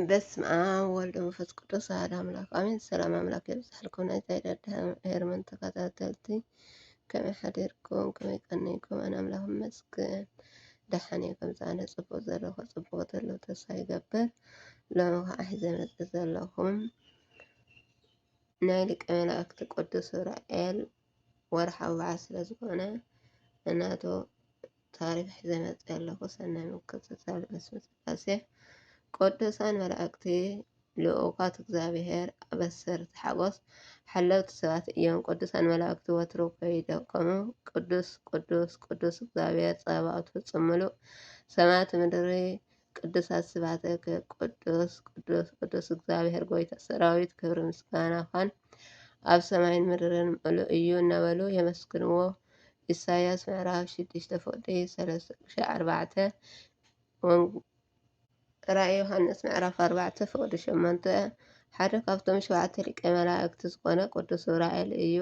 በስመ አብ ወልድ መንፈስ ቅዱስ አሐድ አምላክ አሜን። ሰላም አምላክ የብዛሕልኩም ናይ ዛይዳድ ሄርመን ተከታተልቲ ከመይ ሓዲርኩም ከመይ ቀኒኩም ኣነ አምላክ ይመስገን ደሓን እየ ከምዚ ኣነ ፅቡቅ ዘለኩ ፅቡቅ ዘለዉ ተስፋ ይገብር ሎሚ ከዓ ሒዘ መፅእ ዘለኩም ናይ ሊቀ መላእክቲ ቅዱስ ዑራኤል ወርሓዊ በዓል ስለዝኾነ እናቶ ታሪኽ ሒዘ መፂኣ ኣለኹ። ሰናይ ምክትታል በስመ ስላሴ ቅዱሳን መላእክቲ ልኡካት እግዚኣብሔር ኣበሰርቲ ሓጎስ ሓለውቲ ሰባት እዮም። ቅዱሳን መላእክቲ ወትሩ ከይደከሙ ቅዱስ ቅዱስ ቅዱስ እግዚኣብሔር ፀባኦት ፍፁም ምሉእ ሰማያት ምድሪ ቅዱሳት ስባትክ ቅዱስ ቅዱስ ቅዱስ እግዚኣብሔር ጎይታ ሰራዊት ክብሪ ምስጋና ኳን ኣብ ሰማይን ምድርን ምሉ እዩ እናበሉ የመስግንዎ። ኢሳያስ ምዕራፍ ሽዱሽተ ፍቅዲ ሰለስተ ቅሻዕ ኣርባዕተ ራእይ ዮሃንስ ምዕራፍ ኣርባዕተ ፍቅዲ ሸሞንተ ሓደ ካብቶም ሸውዓተ ሊቀ መላእክቲ ዝኾነ ቅዱስ ዑራኤል እዩ።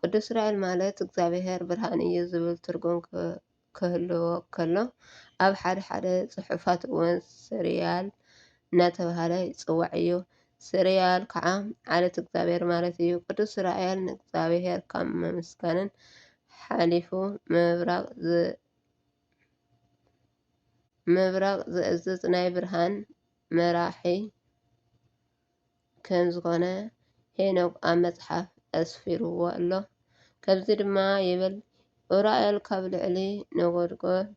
ቅዱስ ዑራኤል ማለት እግዚኣብሔር ብርሃን እዩ ዝብል ትርጉም ክህልዎ ከሎ፣ ኣብ ሓደ ሓደ ጽሑፋት እውን ስርያል እናተባህለ ይጽዋዕ እዩ። ስርያል ከዓ ዓሌት እግዚኣብሔር ማለት እዩ። ቅዱስ ሱራኤል ንእግዚኣብሔር ካብ ምምስጋንን ሓሊፉ ምብራቕ ምብራቕ ዝእዝዝ ናይ ብርሃን መራሒ ከም ዝኾነ ሄኖክ ኣብ መጽሓፍ ኣስፊርዎ ኣሎ። ከምዚ ድማ ይብል፣ ኡራኤል ካብ ልዕሊ ነጎድጎድ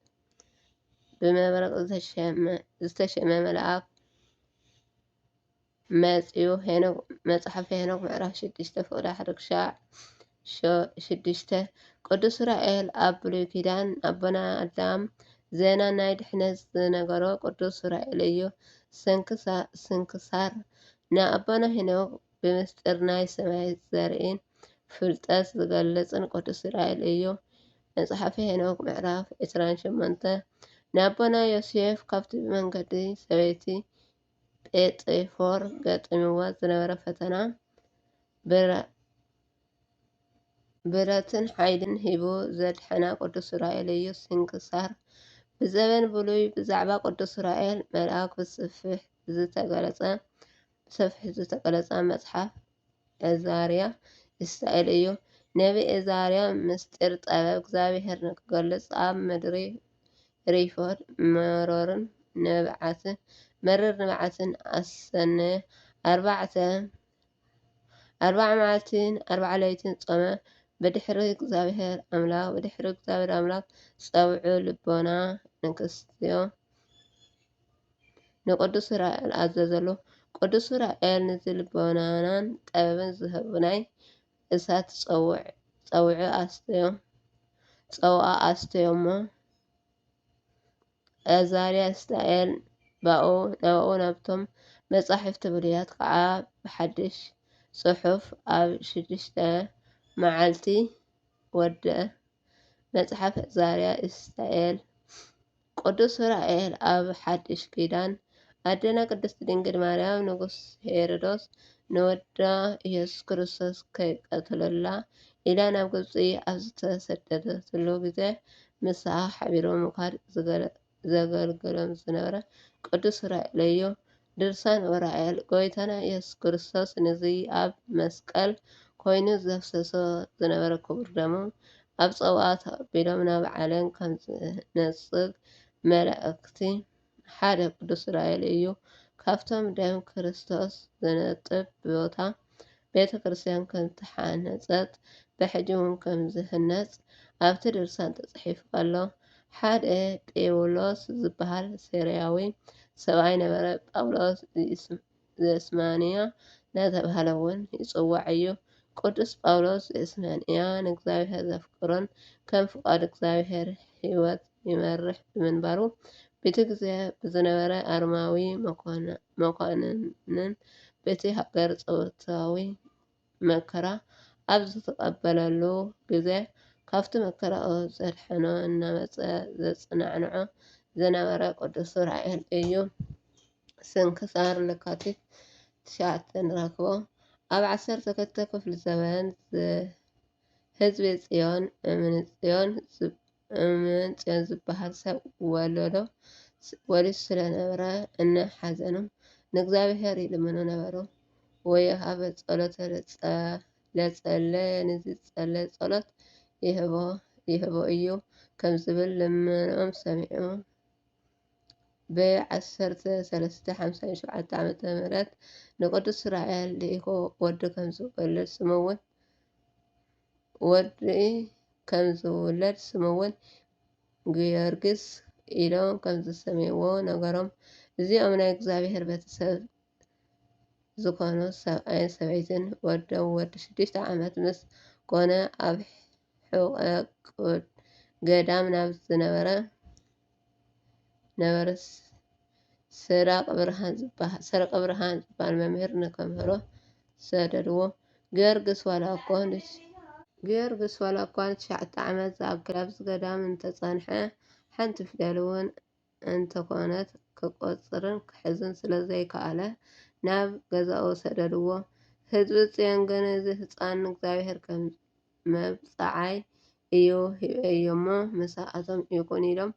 ብመብረቕ ዝተሸመ መልኣኽ መጺኡ፣ መጽሓፈ ሄኖክ ምዕራፍ ሽዱሽተ ፍቕዲ ሓደ ክሻዕ፣ ሸ ሽዱሽተ፣ ቅዱስ ሱራኤል ኣብ ብሉይ ኪዳን ኣቦና ኣዳም ዜና ናይ ድሕነት ዝነገሮ ቅዱስ ሱራኤል እዩ። ስንክሳ ስንክሳር፣ ንኣቦና ሄኖክ ብምስጢር ናይ ሰማይ ዘርኢን ፍልጠት ዝገልጽን ቅዱስ ሱራኤል እዩ። መጽሓፈ ሄኖክ ምዕራፍ ዕስራን ሸሞንተ፣ ንኣቦና ዮሴፍ ካብቲ ብመንገዲ ሰበይቲ ጴጥፎር ገጢምዎ ዝነበረ ፈተና ብረ ብረትን ሓይልን ሂቡ ዘድሐና ቅዱስ ሱራኤል እዩ። ስንክሳር ብዘበን ብሉይ ብዛዕባ ቅዱስ ሱራኤል መልኣክ ብሰፊሕ ዝተገለጸ ብሰፊሕ ዝተገለጸ መጽሓፍ ዕዛርያ እስታኤል እዩ። ነቢ ዕዛርያ ምስጢር ጠበብ እግዚኣብሔር ንክገልጽ ኣብ ምድሪ ሪፎድ መሮርን ንብዓትን መርር ንብዓትን ኣሰነየ ኣርባዕተ ኣርብዓ መዓልቲን ኣርብዓ ለይትን ጾመ ብድሕሪ እግዚኣብሔር ኣምላኽ ብድሕሪ እግዚኣብሔር ኣምላኽ ጸውዑ ልቦና ንክስትዮ ንቅዱስ ራኤል ኣዘዘሉ ቅዱስ ራኤል ንዚ ልቦናናን ጠበብን ዝህብ ናይ እሳት ጸውዑ ኣስተዮ ጸውኣ ኣስተዮ እሞ ኣዛርያ እስራኤል ባኡ ናባኡ ናብቶም መጻሕፍቲ ብሉያት ከኣ ብሓድሽ ጽሑፍ ኣብ ሽዱሽተ መዓልቲ ወድእ። መጽሓፍ ኣዛርያ እስራኤል ቅዱስ ሱራኤል ኣብ ሓድሽ ኪዳን ኣደና ቅድስት ድንግል ማርያም ንጉስ ሄሮዶስ ንወዳ ኢየሱስ ክርስቶስ ከይቀትለላ ኢላ ናብ ግብፂ ኣብ ዝተሰደደትሉ ግዜ ምሳኣ ሓቢሩ ምዃድ ዘገልግሎም ዝነበረ ቅዱስ ኡራኤል እዩ። ድርሳን ኡራኤል ጎይታና ኢየሱስ ክርስቶስ ንዚ ኣብ መስቀል ኮይኑ ዘፍሰሶ ዝነበረ ክቡር ደሙ ኣብ ፀዋእ ተቐቢሎም ናብ ዓለም ከምዝነፅግ መላእክቲ ሓደ ቅዱስ ራኤል እዩ ካብቶም ደም ክርስቶስ ዘነጥብ ቦታ ቤተ ክርስቲያን ከምተሓነጸት ብሕጂ ውን ከም ዝህነጽ ኣብቲ ድርሳን ተጽሒፉ ኣሎ ሓደ ጴውሎስ ዝበሃል ሴርያዊ ሰብኣይ ነበረ ጳውሎስ ዝስም ዘስማንያ እናተባህለ እውን ይጽዋዕ ኢዩ። ቅዱስ ጳውሎስ ዘስማንያ ንእግዚኣብሔር ዘፍቅሮን ከም ፍቓድ እግዚኣብሔር ሕይወት ይመርሕ ብምንባሩ ብቲ ግዜ ብዝነበረ ኣርማዊ መኳንንን በቲ ሃገር ጸውታዊ መከራ ኣብ ዝትቐበለሉ ግዘ ካብቲ መከራኡ ዘድሕኖ እናመፀ ዘፅናዕንዖ ዝነበረ ቅዱስ ሱራኤል እዩ። ስንክሳር ለካቲት ትሽዓተ ንረክቦ። ኣብ ዓሰርተ ክልተ ክፍለ ዘበን ህዝቢ ፅዮን እምኒ ፅዮን እመንጽዮን ዝበሃል ሰብ ወለዶ ወሊሱ ስለ ነበረ፣ እነ ሓዘኑ ንእግዚኣብሄር ይልምኑ ነበሩ። ወዮ ሃበ ጸሎተ ለጸለየ ንዚጸለይ ጸሎት ይህቦ ይህቦ እዩ ከም ዝብል ልመንኦም ሰሚዑ በየ ዓሰርተ ሰለስተ ሓምሳን ሸውዓተ ዓመተ ምህረት ንቅዱስ ሱራኤል ልኢኹ ወዲ ከም ዝወልድ ስሙ እውን ወዲ ከም ዝውለድ ስሙ'ውን ጊዮርግስ ኢሎም ከም ዝሰምይዎ ነገሮም። እዚኦም ናይ እግዚኣብሔር ቤተሰብ ዝኾኑ ሰብኣይን ሰበይትን ወዶም ወዲ ሽዱሽተ ዓመት ምስ ኮነ ኣብ ሕቖ ገዳም ናብ ዝነበረ፣ ነበረ ሰረቀብርሃን ዝበሃል ሰረቀብርሃን ዝበሃል መምህር ንከምህሮ ሰደድዎ። ጊዮርግስ ዋላ እኳ ን ጊዮርግስ ዋላ እኳ ንትሽዓተ ዓመት ዝኣክል ኣብዚ ገዳም እንተጸንሐ፣ ሓንቲ ፊደል'ውን እንተዀነት ክቈጽርን ክሕዝን ስለ ዘይከኣለ ናብ ገዛኡ ሰደድዎ። ህዝቢ ጽዮን ግን እዚ ህጻን ንእግዚኣብሄር ከም። መብጽዓይ እዩ ሂበዮ'ሞ ምሳኣቶም ይኹን ኢሎም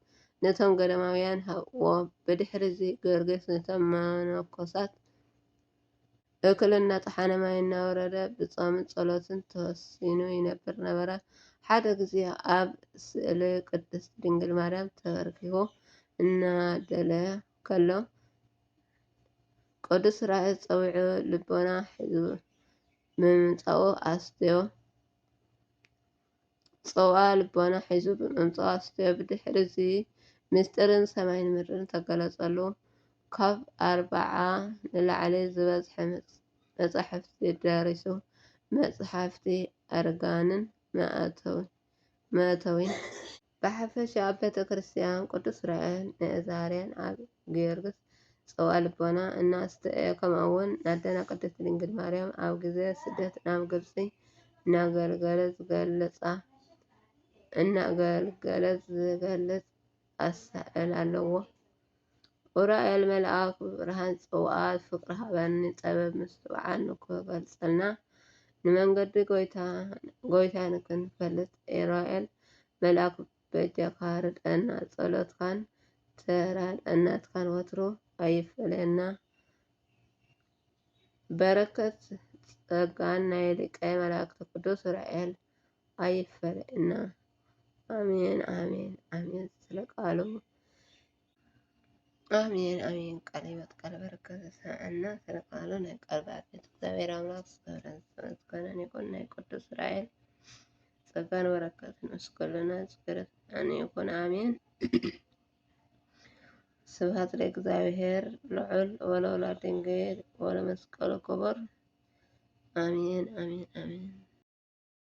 ነቶም ገዳማውያን ሃብዎ። ብድሕሪ'ዚ ገርግስ ነቶም መነኮሳት እኽሊ እናጠሓነ ማይ እናወረደ ብጾምን ጸሎትን ተወሲኑ ይነብር ነበረ። ሓደ ግዜ ኣብ ስእሊ ቅድስት ድንግል ማርያም ተበርኪኹ እናደለ ከሎ ቅዱስ ራእይ ጸዊዑ ልቦና ሒዙ ብምምጻኡ ኣስትዮ ጽውኣ ልቦና ሒዙ ብምምጻኡ ኣስትዮ ብድሕሪ እዚ ምስጢርን ሰማይን ምድርን ተገለጸሉ። ካብ ኣርብዓ ንላዕሊ ዝበዝሐ መጻሕፍቲ ደሪሱ። መጽሓፍቲ ኣርጋንን መእተዊን። ብሓፈሻ ኣብ ቤተ ክርስቲያን ቅዱስ ራኤን ንእዛርያን ኣብ ጊዮርግስ ጸዋእ ልቦና እናስተእየ ከምኡውን ናደና ቅድስት ድንግል ማርያም ኣብ ግዜ ስደት ናብ ግብጺ እናገልገለ ዝገልጻ እናገልገለ ዝገልጽ ኣሳእል ኣለዎ። ኡራኤል መልኣኩ ብርሃን ጽውኣት ፍቅሪ ሃበኒ ጸበብ ምስትውዓል ንክገልጸልና ንመንገዲ ጎይታ ንክንፈልጥ ኡራኤል መልኣኩ በጃካ ርድኣና ጸሎትካን ተራድኣናትካን ወትሩ ኣይፈለየና በረከት ጸጋን ናይ ሊቀ መላእክት ቅዱስ ኡራኤል ኣይፈለየና። ኣሜን ኣሜን ኣሜን ስለ ቃሉ ኣሜን ኣሜን ቃለ ሕይወት ቃለ በረከት ዘስምዐና ስለ ቃሉ ናይ ቃል ባለቤት እግዚኣብሔር ኣምላክ ዝተወረን ዝተመስገነን ይኹን ናይ ቅዱስ እስራኤል ጸጋን በረከት ምስ ኩልና ዝገረት ኣነ ይኹን ኣሜን ስብሐት ለእግዚኣብሔር ልዑል ወለወላድ ድንግል ወለመስቀሉ ክቡር ኣሜን ኣሜን ኣሜን